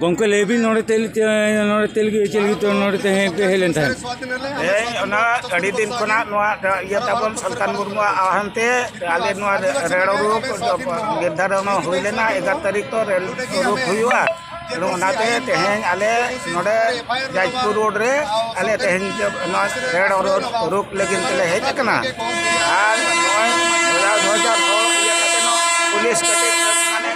ᱜᱚᱝᱠᱮ ᱞᱟᱹᱭ ᱵᱤᱱ ᱱᱚᱰᱮ ᱛᱮᱞ ᱱᱚᱰᱮ ᱛᱮᱞ ᱜᱮ ᱪᱮᱞ ᱜᱮ ᱱᱚᱰᱮ ᱛᱮ ᱦᱮᱡ ᱦᱮᱡ ᱞᱮᱱ ᱛᱟᱦᱮᱸᱫ ᱦᱮᱸ ᱚᱱᱟ ᱟᱹᱰᱤ ᱫᱤᱱ ᱠᱷᱚᱱᱟᱜ ᱱᱚᱣᱟ ᱤᱭᱟᱹ ᱛᱟᱵᱚᱱ ᱥᱟᱞᱠᱷᱟᱱ ᱢᱩᱨᱢᱩᱣᱟᱜ ᱟᱦᱟᱱ ᱛᱮ ᱟᱞᱮ ᱱᱚᱣᱟ ᱨᱮᱲ ᱩᱨᱩᱠ ᱱᱤᱨᱫᱷᱟᱨᱚᱱ ᱦᱩᱭ ᱞᱮᱱᱟ ᱮᱜᱟᱨ ᱛᱟᱹᱨᱤᱠᱷ ᱛᱚ ᱨᱮᱞ ᱩᱨᱩᱠ ᱦᱩᱭᱩᱜᱼᱟ ᱟᱫᱚ ᱚᱱᱟᱛᱮ ᱛᱮᱦᱮᱧ ᱟᱞᱮ ᱱᱚᱰᱮ ᱡᱟᱡᱽᱯᱩᱨ ᱨᱳᱰ ᱨᱮ ᱟᱞᱮ ᱛᱮᱦᱮᱧ ᱱᱚᱣᱟ ᱨᱮᱲ ᱩᱨᱩᱠ ᱞᱟᱹᱜᱤᱫ ᱛᱮᱞᱮ ᱦᱮᱡ ᱟᱠᱟᱱᱟ ᱟᱨ ᱱᱚᱜᱼᱚᱭ ᱫᱩ ᱦᱟᱡᱟᱨ ᱱᱚ ᱤᱭᱟᱹ ᱠᱟᱛᱮᱫ ᱦᱚᱸ ᱯᱩᱞᱤᱥ ᱠᱟᱹᱴᱤᱡ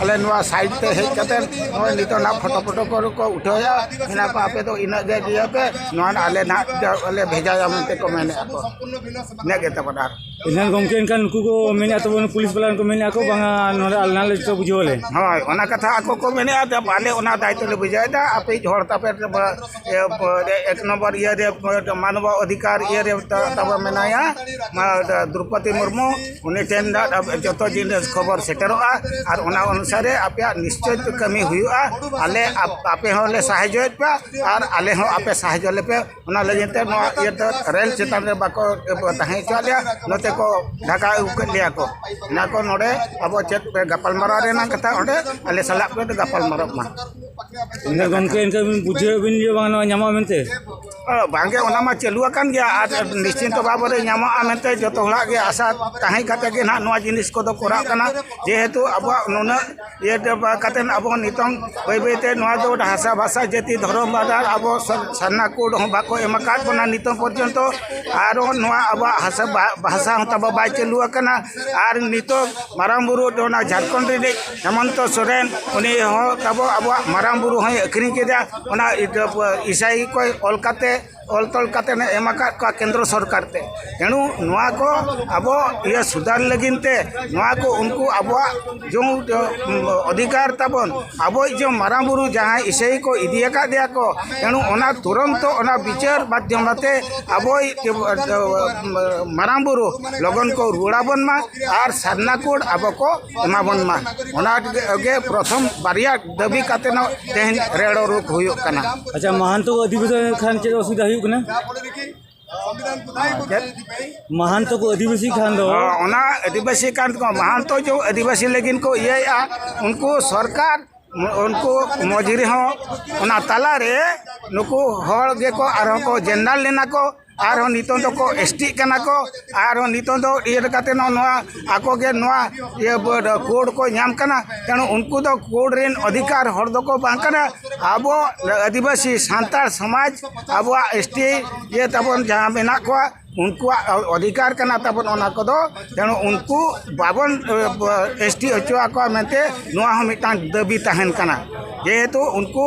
ᱟᱞᱮ ᱱᱚᱣᱟ ᱥᱟᱭᱤᱰ ᱛᱮ ᱦᱮᱡ ᱠᱟᱛᱮ ᱱᱚᱜᱼᱚᱭ ᱱᱤᱛᱚᱜ ᱱᱟᱜ ᱯᱷᱳᱴᱳ ᱯᱷᱳᱴᱳ ᱠᱚ ᱠᱚ ᱩᱴᱷᱟᱹᱣᱭᱟ ᱢᱮᱱᱟ ᱠᱚ ᱟᱯᱮ ᱫᱚ ᱤᱱᱟᱹᱜ ᱜᱮ ᱤᱭᱟᱹ ᱯᱮ ᱱᱚᱣᱟ ᱟᱞᱮ ᱱᱟᱜ ᱟᱞᱮ ᱵᱷᱮᱡᱟᱭᱟ ᱢᱮᱱᱛᱮ ᱠᱚ ᱢᱮᱱᱮᱫᱼᱟ ᱠᱚ ᱤᱱᱟᱹ ᱜᱮ ᱛᱟᱵᱚᱱ ᱟᱨ ᱮᱱᱠᱷᱟᱱ ᱜᱚᱢᱠᱮ ᱮᱱᱠᱷᱟᱱ ᱩᱱᱠᱩ ᱠᱚ ᱢᱮᱱᱮᱫᱼᱟ ᱛᱟᱵᱚᱱ ᱯᱩᱞᱤᱥ ᱵᱟᱞᱟ ᱠᱚ ᱢᱮᱱᱮᱫᱼᱟ ᱠᱚ ᱵᱟᱝᱟ ᱱᱚᱰᱮ ᱟᱞᱮ ᱱᱟᱞᱮ ᱡᱚᱛᱚ ᱵᱩᱡᱷᱟᱹᱣ ᱟᱞᱮ ᱦᱳᱭ ᱚᱱᱟ ᱠᱟᱛᱷᱟ ᱟᱠᱚ ᱠᱚ ᱢᱮᱱᱮᱫᱼᱟ ᱡᱮ ᱟᱞᱮ ᱚᱱᱟ ᱫᱟᱭᱤᱛᱛᱚ ᱞᱮ ᱵᱩᱡᱷᱟᱹᱣᱮᱫᱟ ᱟᱯᱮ ᱦᱚᱲ ᱛᱟᱯᱮ ᱮᱠ ᱱᱚᱢᱵᱚᱨ ᱤᱭᱟᱹ ᱨᱮ ᱢᱟᱱᱚᱵ ᱚᱫᱷᱤᱠᱟᱨ ᱤᱭᱟᱹ ᱨᱮ ᱛᱟᱵᱚ ᱢᱮᱱᱟᱭᱟ ᱫᱨᱳᱯᱚᱫᱤ ᱢᱩᱨᱢᱩ ᱩᱱᱤ ᱴᱷᱮᱱ ᱡᱚᱛᱚ ᱡᱤᱱᱤᱥ ᱠᱷᱚᱵᱚᱨ ᱥᱮᱴᱮᱨᱚᱜᱼᱟ ᱟᱨ ᱚᱱᱟ ᱚᱱᱩᱥᱟᱨᱮ ᱟᱯᱮᱭᱟᱜ ᱱᱤᱥᱪᱚᱭ ᱠᱟᱹᱢᱤ ᱦᱩᱭᱩᱜᱼᱟ ᱟᱞᱮ ᱟᱯᱮ ᱦᱚᱸᱞᱮ ᱥᱟᱦᱟᱡᱽᱡᱚᱭᱮᱫ ᱯᱮᱭᱟ ᱟᱨ ᱟᱞᱮ ᱦᱚᱸ ᱟᱯᱮ ᱥᱟᱦᱟᱡᱽᱡᱚ ᱞᱮᱯᱮ ᱚᱱᱟ ᱞᱟᱹᱜᱤᱫ ᱛᱮ ᱱᱚᱣᱟ ᱤᱭᱟᱹ ᱫᱚ ᱨᱮᱹᱞ ᱪᱮᱛᱟᱱ ᱨᱮ ᱵᱟᱠᱚ ᱛᱟᱦᱮᱸ ᱦᱚᱪᱚᱣᱟᱜ ᱞᱮᱭᱟ ᱱᱚᱛᱮ ᱠᱚ ᱰᱷᱟᱠᱟ ᱟᱹᱜᱩ ᱠᱮᱫ ᱞᱮᱭᱟ ᱠᱚ ᱚᱱᱟ ᱠᱚ ᱱᱚᱰᱮ ᱟᱵᱚ ᱪᱮᱫ ᱯᱮ ᱜᱟᱯᱟᱞᱢᱟᱨᱟᱣ ᱨᱮᱱᱟᱜ ᱠᱟᱛᱷᱟ ᱚᱸᱰᱮ ᱟᱞᱮ ᱥᱟᱞᱟᱜ ᱯᱮ ᱜᱟᱯᱟᱞᱢᱟᱨᱟᱜ ᱢᱟ ᱜᱚᱢᱠᱮ ᱮᱱᱠᱷᱟᱱ ᱵᱩᱡᱷᱟᱹᱣ ᱵᱤᱱ ᱡᱮ ᱵᱟᱝ ᱱᱚᱣᱟ ᱧᱟᱢᱚᱜᱼᱟ ᱢᱮᱱᱛᱮ ᱵᱟᱝᱜᱮ ᱚᱱᱟ ᱢᱟ ᱪᱟᱹᱞᱩ ᱟᱠᱟᱱ ᱜᱮᱭᱟ ᱟᱨ ᱱᱤᱥᱪᱤᱱᱛᱚ ᱵᱟᱵᱚᱫ ᱨᱮ ᱧᱟᱢᱚᱜᱼᱟ ᱢᱮᱱᱛᱮ ᱡᱚᱛᱚ ᱦᱚᱲᱟᱜ ᱜᱮ ᱟᱥᱟ ᱛᱟᱦᱮᱸ ᱠᱟᱛᱮ ᱜᱮ ᱱᱟᱦᱟᱜ ᱱᱚᱣᱟ ᱡᱤᱱᱤᱥ ᱠᱚᱫᱚ ᱠᱚᱨᱟᱜ ᱠᱟᱱᱟ ᱡᱮᱦᱮᱛᱩ ᱟᱵᱚᱣᱟᱜ ᱱᱩᱱᱟᱹᱜ ᱤᱭᱟᱹ ᱠᱟᱛᱮ ᱟᱵᱚ ᱱᱤᱛᱚᱝ ᱵᱟᱹᱭ ᱵᱟᱹᱭ ᱛᱮ ᱱᱚᱣᱟ ᱫᱚ ᱦᱟᱥᱟ ᱵᱷᱟᱥᱟ ᱡᱟᱹᱛᱤ ᱫᱷᱚᱨᱚᱢ ᱵᱟᱫᱟᱨ ᱟᱵᱚ ᱥᱟᱨᱱᱟ ᱠᱳᱰ ᱦᱚᱸ ᱵᱟᱠᱚ ᱮᱢ ᱟᱠᱟᱫ ᱵᱚᱱᱟ ᱱᱤᱛᱚᱝ ᱯᱚᱨᱡᱚᱱᱛᱚ ᱟᱨᱚ ᱱᱚᱣᱟ ᱟᱵᱚᱣᱟᱜ ᱦᱟᱥᱟ ᱵᱷᱟᱥᱟ ᱦᱚᱸ ᱛᱟᱵᱚ ᱵᱟᱭ ᱪᱟᱹᱞᱩ ᱟᱠᱟᱱᱟ ᱟᱨ ᱱᱤᱛᱚᱜ ᱢᱟᱨᱟᱝ ᱵᱩᱨᱩ ᱚᱱᱟ ᱡᱷᱟᱲᱠᱷᱚᱸᱰ ᱨᱤᱱᱤᱡ ᱦᱮᱢᱚᱱᱛᱚ ᱥᱚᱨᱮᱱ ᱩᱱᱤ ᱦᱚᱸ ᱛᱟᱵᱚ ᱟᱵᱚᱣᱟᱜ ᱢᱟᱨᱟᱝ ᱵᱩᱨᱩ ᱦᱚᱸᱭ ᱟᱹᱠᱷᱨᱤᱧ ᱠᱮᱫᱟ ᱚᱱᱟ ᱤᱥᱟᱹᱭ ᱠᱚᱭ ᱚᱞ ᱠᱟᱛᱮ ᱚᱞ ᱛᱚᱞ ᱠᱟᱛᱮ ᱮᱢ ᱟᱠᱟᱫ ᱠᱚᱣᱟ ᱠᱮᱱᱫᱨᱚ ᱥᱚᱨᱠᱟᱨ ᱛᱮ ᱛᱮᱬᱩ ᱱᱚᱣᱟ ᱠᱚ ᱟᱵᱚ ᱤᱭᱟᱹ ᱥᱩᱫᱷᱟᱹᱨ ᱞᱟᱹᱜᱤᱫ ᱛᱮ ᱱᱚᱣᱟ ᱠᱚ ᱩᱱᱠᱩ ᱟᱵᱚᱣᱟᱜ ᱡᱚᱢ ᱚᱫᱷᱤᱠᱟᱨ ᱛᱟᱵᱚᱱ ᱟᱵᱚᱭ ᱡᱚᱢ ᱢᱟᱨᱟᱝ ᱵᱩᱨᱩ ᱡᱟᱦᱟᱸᱭ ᱤᱥᱟᱹᱭ ᱠᱚ ᱤᱫᱤ ᱟᱠᱟᱫᱮᱭᱟ ᱠᱚ ᱛᱮᱬᱩ ᱚᱱᱟ ᱛᱩᱨᱚᱱᱛᱚ ᱚᱱᱟ ᱵᱤᱪᱟᱹᱨ ᱢᱟᱫᱽᱫᱷᱚᱢ ᱛᱮ ᱟᱵᱚᱭ ᱢᱟᱨᱟᱝ ᱵᱩᱨᱩ ᱞᱚᱜᱚᱱ ᱠᱚ ᱨᱩᱣᱟᱹᱲ ᱟᱵᱚᱱ ᱢᱟ ᱟᱨ ᱥᱟᱨᱱᱟ ᱠᱳᱰ ᱟᱵᱚ ᱠᱚ ᱮᱢᱟ ᱵᱚᱱ ᱢᱟ ᱚᱱᱟ ᱜᱮ ᱯᱨᱚᱛᱷᱚᱢ ᱵᱟᱨᱭᱟ ᱫᱟᱹᱵᱤ ᱠᱟᱛᱮ ᱱᱚ ᱛᱮᱦᱮᱧ ᱨᱮᱲᱚ ᱨᱩᱯ ᱦᱩᱭᱩᱜ ᱠᱟᱱᱟ ᱟᱪᱪᱷᱟ ᱢᱟᱦᱟᱱᱛᱚ ᱚᱫᱷᱤᱵᱮᱥᱚᱱ ᱠᱷᱟᱱ ᱪᱮᱫ ᱚᱥᱩᱵᱤᱫᱷᱟ ᱦᱩᱭᱩᱜ ᱠᱟᱱᱟ ᱢᱟᱦᱟᱱᱛᱚ ᱠᱚ ᱟᱹᱫᱤᱵᱟᱹᱥᱤ ᱠᱷᱟᱱ ᱫᱚ ᱚᱱᱟ ᱟᱹᱫᱤᱵᱟᱹᱥᱤ ᱠᱟᱱ ᱠᱚ ᱢᱟᱦᱟᱱᱛᱚ ᱡᱚ ᱟᱹᱫᱤᱵᱟᱹᱥᱤ ᱞᱟᱹᱜᱤᱫ ᱠᱚ ᱤᱭᱟᱹᱭᱮᱜᱼᱟ ᱩᱱᱠᱩ ᱥᱚᱨᱠᱟᱨ ᱩᱱᱠᱩ ᱢᱚᱡᱽ ᱨᱮᱦᱚᱸ ᱚᱱᱟ ᱛᱟᱞᱟᱨᱮ ᱱᱩᱠᱩ ᱦᱚᱲ ᱜᱮᱠᱚ ᱟᱨᱦᱚᱸ ᱠᱚ ᱡᱮᱱᱟᱨᱮᱞ ᱞᱮᱱᱟ ᱠᱚ ᱟᱨᱦᱚᱸ ᱱᱤᱛᱚᱝ ᱫᱚᱠᱚ ᱮᱥᱴᱤᱜ ᱠᱟᱱᱟ ᱠᱚ ᱟᱨᱦᱚᱸ ᱱᱤᱛᱚᱝ ᱫᱚ ᱤᱭᱟᱹ ᱞᱮᱠᱟᱛᱮ ᱱᱚᱣᱟ ᱟᱠᱚ ᱜᱮ ᱱᱚᱣᱟ ᱤᱭᱟᱹ ᱠᱳᱰ ᱠᱚ ᱧᱟᱢ ᱠᱟᱱᱟ ᱛᱮᱬᱩ ᱩᱱᱠᱩ ᱫᱚ ᱠᱳᱰ ᱨᱮᱱ ᱚᱫᱷᱤᱠᱟᱨ ᱦᱚᱲ ᱫᱚᱠᱚ ᱵᱟᱝ ᱠᱟᱱᱟ ᱟᱵᱚ ᱟᱹᱫᱤᱵᱟᱹᱥᱤ ᱥᱟᱱᱛᱟᱲ ᱥᱚᱢᱟᱡᱽ ᱟᱵᱚᱣᱟᱜ ᱮᱥᱴᱤ ᱤᱭᱟᱹ ᱛᱟᱵᱚᱱ ᱡᱟᱦᱟᱸ ᱢᱮᱱᱟᱜ ᱠᱚᱣᱟ ᱩᱱᱠᱩᱣᱟᱜ ᱚᱫᱷᱤᱠᱟᱨ ᱠᱟᱱᱟ ᱛᱟᱵᱚᱱ ᱚᱱᱟ ᱠᱚᱫᱚ ᱛᱮᱬᱩ ᱩᱱᱠᱩ ᱵᱟᱵᱚᱱ ᱮᱥᱴᱤ ᱦᱚᱪᱚ ᱟᱠᱚᱣᱟ ᱢᱮᱱᱛᱮ ᱱᱚᱣᱟ ᱦᱚᱸ ᱢᱤᱫᱴᱟᱝ ᱫᱟᱹᱵᱤ ᱛᱟᱦᱮᱱ ᱠᱟᱱᱟ ᱡᱮᱦᱮᱛᱩ ᱩᱱᱠᱩ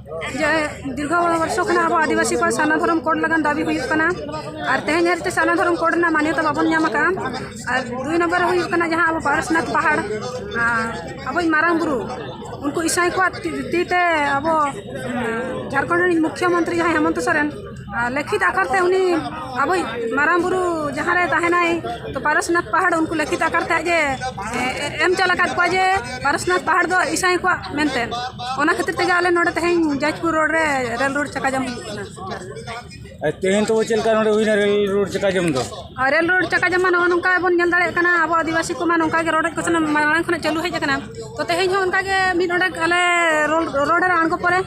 ᱡᱮ ᱫᱤᱨᱜᱷᱚ ᱵᱚᱨᱥᱚ ᱠᱷᱚᱱᱟᱜ ᱟᱵᱚ ᱟᱹᱫᱤᱵᱟᱹᱥᱤ ᱠᱚᱣᱟᱜ ᱥᱟᱨᱱᱟ ᱫᱷᱚᱨᱚᱢ ᱠᱳᱰ ᱞᱟᱹᱜᱤᱫ ᱫᱟᱹᱵᱤ ᱦᱩᱭᱩᱜ ᱠᱟᱱᱟ ᱟᱨ ᱛᱮᱦᱮᱧ ᱦᱟᱹᱨᱤᱡ ᱛᱮ ᱥᱟᱨᱱᱟ ᱫᱷᱚᱨᱚᱢ ᱠᱳᱰ ᱨᱮᱱᱟᱜ ᱢᱟᱱᱭᱚᱛᱟ ᱵᱟᱵᱚᱱ ᱧᱟᱢ ᱟᱠᱟᱫᱼᱟ ᱟᱨ ᱫᱩᱭ ᱱᱚᱢᱵᱚᱨ ᱨᱮ ᱦᱩᱭᱩᱜ ᱠᱟᱱᱟ ᱡᱟᱦᱟᱸ ᱟᱵᱚ ᱯᱟᱨᱥᱱᱟᱛᱷ ᱯᱟᱦᱟᱲ ᱟᱵᱚᱭᱤᱡ ᱢᱟᱨᱟᱝ ᱵᱩᱨᱩ ᱩᱱᱠᱩ ᱤᱥᱟᱹᱭ ᱠᱚᱣᱟᱜ ᱛᱤ ᱛᱮ ᱟᱵᱚ ᱡᱷᱟᱲᱠᱷᱚᱸᱰ ᱨᱤᱱᱤᱡ ᱢᱩᱠᱷᱭᱚ ᱢᱚᱱᱛᱨᱤ ᱡᱟᱦᱟᱸᱭ ᱦᱮᱢᱚᱱᱛᱚ ᱥᱚᱨᱮᱱ ᱞᱮᱠᱷᱤᱛ ᱟᱠᱟᱨ ᱛᱮ ᱩᱱᱤ ᱟᱵᱚ ᱢᱟᱨᱟᱝ ᱵᱩᱨᱩ ᱡᱟᱦᱟᱸ ᱨᱮ ᱛᱟᱦᱮᱱᱟᱭ ᱛᱚ ᱯᱟᱨᱚᱥᱱᱟᱛᱷ ᱯᱟᱦᱟᱲ ᱩᱱᱠᱩ ᱞᱮᱠᱷᱤᱛ ᱟᱠᱟᱨ ᱛᱮ ᱟᱡ ᱮ ᱮᱢ ᱪᱟᱞ ᱟᱠᱟᱫ ᱠᱚᱣᱟ ᱡᱮ ᱯᱟᱨᱚᱥᱱᱟᱛᱷ ᱯᱟᱦᱟᱲ ᱫᱚ ᱤᱥᱟᱹᱭ ᱠᱚᱣᱟᱜ ᱢᱮᱱᱛᱮ ᱚᱱᱟ ᱠᱷᱟᱹᱛᱤᱨ ᱛᱮᱜᱮ ᱟᱞᱮ ᱱᱚᱰᱮ ᱛᱮᱦᱮᱧ ᱡᱟᱡᱽᱯᱩᱨ ᱨᱳᱰ ᱨᱮ ᱨᱮᱞ ᱨᱳᱰ ᱪᱟᱠᱟ ᱡᱟᱢ ᱦᱩᱭᱩᱜ ᱠᱟᱱᱟ ᱛᱮᱦᱮᱧ ᱛᱚ ᱪᱮᱫ ᱞᱮᱠᱟ ᱱᱚᱰᱮ ᱦᱩᱭᱱᱟ ᱨᱮᱞ ᱨᱳᱰ ᱪᱟᱠᱟ ᱡᱟᱢ ᱫᱚ ᱨᱮᱞ ᱨᱳᱰ ᱪᱟᱠᱟ ᱡᱟᱢ ᱱᱚᱜᱼᱚ ᱱᱚᱝᱠᱟ ᱵᱚᱱ ᱧᱮᱞ ᱫᱟᱲᱮᱭᱟᱜ ᱠᱟᱱᱟ ᱟᱵᱚ ᱟᱹᱫᱤᱵᱟᱹᱥᱤ ᱠᱚᱢᱟ ᱱᱚᱝᱠᱟ ᱜᱮ ᱨᱚᱰᱚᱡ ᱠᱚᱪᱞᱚᱱ ᱢᱟᱲᱟᱝ ᱠᱷᱚᱱᱟᱜ ᱪᱟᱹᱞᱩ ᱦᱮᱡ ᱟᱠᱟᱱᱟ ᱛᱚ ᱛᱮᱦᱮᱧ ᱦᱚᱸ ᱚᱱᱠᱟ ᱜᱮ ᱢᱤᱫ ᱚᱸᱰᱮ ᱟᱞᱮ ᱨᱳᱰ ᱨᱮ ᱟᱬᱜᱚ ᱯᱚᱨᱮ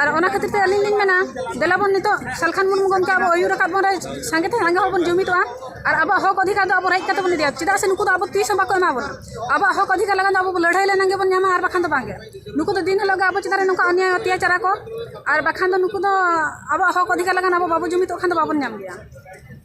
ᱟᱨ ᱚᱱᱟ ᱠᱷᱟᱹᱛᱤᱨ ᱛᱮ ᱟᱹᱞᱤᱧ ᱞᱤᱧ ᱢᱮᱱᱟ ᱫᱮᱞᱟ ᱵᱚᱱ ᱱᱤᱛᱚᱜ ᱥᱟᱞᱠᱷᱟᱱ ᱢᱩᱨᱢᱩ ᱜᱚᱢᱠᱮ ᱟᱵᱚ ᱟᱹᱭᱩᱨ ᱟᱠᱟᱫ ᱵᱚᱱ ᱨᱮ ᱥᱟᱸᱜᱮ ᱛᱮ ᱥᱟᱸᱜᱮ ᱦᱚᱲ ᱵᱚᱱ ᱡᱩᱢᱤᱫᱚᱜᱼᱟ ᱟᱨ ᱟᱵᱚᱣᱟᱜ ᱦᱚᱠ ᱚᱫᱷᱤᱠᱟᱨ ᱫᱚ ᱟᱵᱚ ᱨᱮᱡ ᱠᱟᱛᱮ ᱵᱚᱱ ᱤᱫᱤᱭᱟ ᱪᱮᱫᱟᱜ ᱥᱮ ᱱᱩᱠᱩ ᱫᱚ ᱟᱵᱚ ᱛᱤᱥ ᱦᱚᱸ ᱵᱟᱠᱚ ᱮᱢᱟ ᱵᱚᱱᱟ ᱟᱵᱚᱣᱟᱜ ᱦᱚᱠ ᱚᱫᱷᱤᱠᱟᱨ ᱞᱟᱹᱜᱤᱫ ᱫᱚ ᱟᱵᱚ ᱞᱟᱹᱲᱦᱟᱹᱭ ᱞᱮᱱᱟᱝ ᱜᱮᱵᱚᱱ ᱧᱟᱢᱟ ᱟᱨ ᱵᱟᱠᱷᱟᱱ ᱫᱚ ᱵᱟᱝᱜᱮ ᱱᱩᱠᱩ ᱫᱚ ᱫᱤᱱ ᱦᱤᱞᱳᱜ ᱜᱮ ᱟᱵᱚ ᱪᱮᱛᱟᱱ ᱨᱮ ᱱᱚᱝᱠᱟ ᱚᱱᱱᱭᱟᱭ ᱚᱛᱛᱟᱪᱟᱨ ᱟᱠᱚ ᱟᱨ ᱵᱟᱠᱷᱟᱱ ᱫᱚ ᱱᱩᱠᱩ ᱫᱚ ᱟᱵᱚᱣᱟᱜ ᱦᱚᱠ ᱚᱫᱷᱤᱠᱟᱨ ᱞᱟᱹᱜᱤᱫ ᱟᱵᱚ ᱵᱟᱵᱚ ᱡᱩᱢᱤᱫᱚᱜ ᱠᱷᱟᱱ ᱫᱚ ᱵᱟᱵᱚᱱ ᱧᱟᱢ ᱜᱮᱭᱟ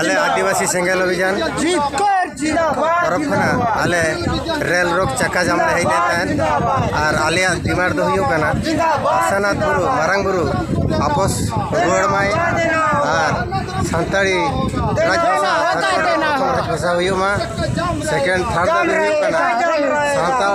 ᱟᱞᱮ ᱟᱹᱫᱤᱵᱟᱹᱥᱤ ᱥᱮᱸᱜᱮᱞ ᱚᱵᱷᱤᱡᱟᱱ ᱛᱚᱨᱚᱯ ᱠᱷᱚᱱᱟᱜ ᱟᱞᱮ ᱨᱮᱞ ᱨᱳᱠ ᱪᱟᱠᱟ ᱡᱟᱢ ᱞᱮ ᱦᱮᱡ ᱞᱮᱱ ᱛᱟᱦᱮᱸᱫ ᱟᱨ ᱟᱞᱮᱭᱟᱜ ᱰᱤᱢᱟᱱᱰ ᱫᱚ ᱦᱩᱭᱩᱜ ᱠᱟᱱᱟ ᱟᱥᱟᱱᱟᱛᱷ ᱵᱩᱨᱩ ᱢᱟᱨᱟᱝ ᱵᱩᱨᱩ ᱟᱯᱚᱥ ᱨᱩᱣᱟᱹᱲ ᱢᱟᱭ ᱟᱨ ᱥᱟᱱᱛᱟᱲᱤ ᱨᱟᱡᱽ ᱵᱷᱟᱥᱟ ᱨᱟᱡᱽ ᱵᱷᱟᱥᱟ ᱦᱩᱭᱩᱜ ᱢᱟ ᱥᱮᱠᱮᱱᱰ ᱛᱷᱟᱨᱰ ᱫᱚ ᱦᱩᱭᱩᱜ ᱠᱟᱱᱟ ᱥᱟᱱᱛᱟᱲ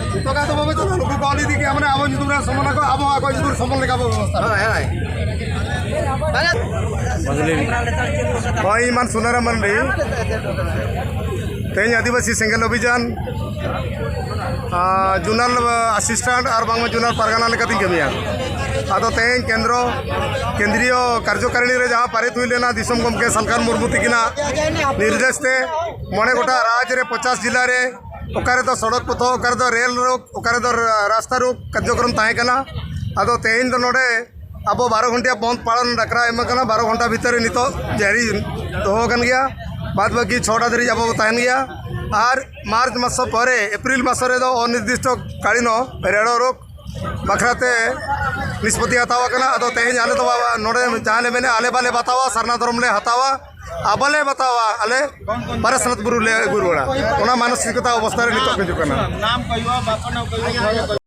ᱩᱯᱚᱠᱟᱨ ᱫᱚ ᱵᱟᱵᱚ ᱪᱟᱞᱟᱣ ᱱᱩᱠᱩ ᱠᱚ ᱟᱞᱤ ᱫᱤᱠᱮ ᱟᱢᱨᱮ ᱟᱵᱚ ᱧᱩᱛᱩᱢ ᱨᱮ ᱥᱚᱢᱚᱱ ᱟᱠᱚ ᱟᱵᱚ ᱟᱠᱚ ᱧᱩᱛᱩᱢ ᱨᱮ ᱥᱚᱢᱚᱱ ᱞᱮᱠᱟ ᱵᱚ ᱵᱮᱵᱚᱥᱛᱷᱟ ᱦᱳᱭ ᱦᱳᱭ ᱦᱳᱭ ᱤᱧ ᱢᱟᱱ ᱥᱩᱱᱟᱨᱟᱢ ᱢᱟᱱᱰᱤ ᱛᱮᱦᱮᱧ ᱟᱹᱫᱤᱵᱟᱹᱥᱤ ᱥᱮᱸᱜᱮᱞ ᱚᱵᱷᱤᱡᱟᱱ ᱡᱩᱱᱟᱞ ᱟᱥᱤᱥᱴᱟᱱᱴ ᱟᱨ ᱵᱟᱝᱢᱟ ᱡᱩᱱᱟᱞ ᱯᱟᱨᱜᱟᱱᱟ ᱞᱮᱠᱟᱛᱤᱧ ᱠᱟᱹᱢᱤᱭᱟ ᱟᱫᱚ ᱛᱮᱦᱮᱧ ᱠᱮᱱᱫᱨᱚ ᱠᱮᱱᱫᱨᱤᱭᱚ ᱠᱟᱨᱡᱚᱠᱟᱨᱤᱱᱤ ᱨᱮ ᱡᱟᱦᱟᱸ ᱯᱟᱨᱤᱛ ᱦᱩᱭ ᱞᱮᱱᱟ ᱫᱤᱥᱚᱢ ᱜᱚᱢᱠᱮ ᱥᱟᱞᱠᱷᱟᱱ ᱢᱩᱨᱢᱩ ᱛᱤᱠᱤᱱᱟᱜ ᱱᱤᱨᱫᱮᱥ ᱛᱮ ᱢᱚᱬᱮ ᱜᱚᱴᱟ ᱨᱟᱡᱽ ᱨᱮ ᱯᱚᱪᱟᱥ ᱡᱤᱞᱟ ᱨᱮ ᱚᱠᱟ ᱨᱮᱫᱚ ᱥᱚᱲᱚᱠ ᱯᱚᱛᱷᱚ ᱚᱠᱟ ᱨᱮᱫᱚ ᱨᱮᱹᱞ ᱨᱳᱰ ᱚᱠᱟ ᱨᱮᱫᱚ ᱨᱟᱥᱛᱟ ᱨᱳᱰ ᱠᱟᱨᱡᱚᱠᱨᱚᱢ ᱛᱟᱦᱮᱸ ᱠᱟᱱᱟ ᱟᱫᱚ ᱛᱮᱦᱮᱧ ᱫᱚ ᱱᱚᱰᱮ ᱟᱵᱚ ᱵᱟᱨᱚ ᱜᱷᱚᱱᱴᱤᱭᱟ ᱵᱚᱸᱫᱽ ᱯᱟᱞᱚᱱ ᱰᱟᱠᱨᱟ ᱮᱢ ᱠᱟᱱᱟ ᱵᱟᱨᱚ ᱜᱷᱚᱱᱴᱟ ᱵᱷᱤᱛᱟᱹᱨ ᱨᱮ ᱱᱤᱛᱚᱜ ᱡᱟᱹᱨᱤ ᱫᱚᱦᱚ ᱟᱠᱟᱱ ᱜᱮᱭᱟ ᱵᱟᱫᱽ ᱵᱟᱹᱠᱤ ᱪᱷᱚᱴᱟ ᱫᱷᱟᱹᱨᱤᱡ ᱟᱵᱚ ᱵᱚ ᱛᱟᱦᱮᱱ ᱜᱮᱭᱟ ᱟᱨ ᱢᱟᱨᱪ ᱢᱟᱥ ᱯᱚᱨᱮ ᱮᱯᱨᱤᱞ ᱢᱟᱥ ᱨᱮᱫᱚ ᱚᱱᱤᱨᱫᱤᱥᱴᱚ ᱠᱟᱞᱤᱱ ᱨᱮᱲᱚ ᱨᱳᱜᱽ ᱵᱟᱠᱷᱨᱟ ᱛᱮ ᱱᱤᱥᱯᱚᱛᱛᱤ ᱦᱟᱛᱟᱣ ᱟᱠᱟᱱᱟ ᱟᱫᱚ ᱛᱮᱦᱮᱧ ᱟᱞᱮ ᱫᱚ ᱱᱚᱰᱮ ᱡᱟᱦᱟᱸ ᱞᱮ ᱢᱮᱱᱮᱫᱼᱟ ᱟᱞᱮ ᱵᱟᱞᱮ ᱵᱟᱛᱟᱣᱟ ᱥᱟᱨᱱᱟ ᱫᱷᱚᱨᱚᱢ ᱞᱮ ᱦᱟᱛᱟᱣᱟ ᱟᱵᱟᱞᱮ ᱵᱟᱛᱟᱣᱟ ᱟᱞᱮ ᱯᱟᱨᱟᱥᱱᱟᱛ ᱵᱩᱨᱩ ᱞᱮ ᱟᱹᱜᱩ ᱨᱩᱣᱟᱹᱲᱟ ᱚᱱᱟ ᱢᱟᱱᱚᱥᱤᱠᱚᱛᱟ ᱚᱵᱚᱥᱛᱟ ᱨᱮ ᱱᱤᱛᱚᱜ ᱦᱤᱡᱩᱜ ᱠᱟᱱᱟ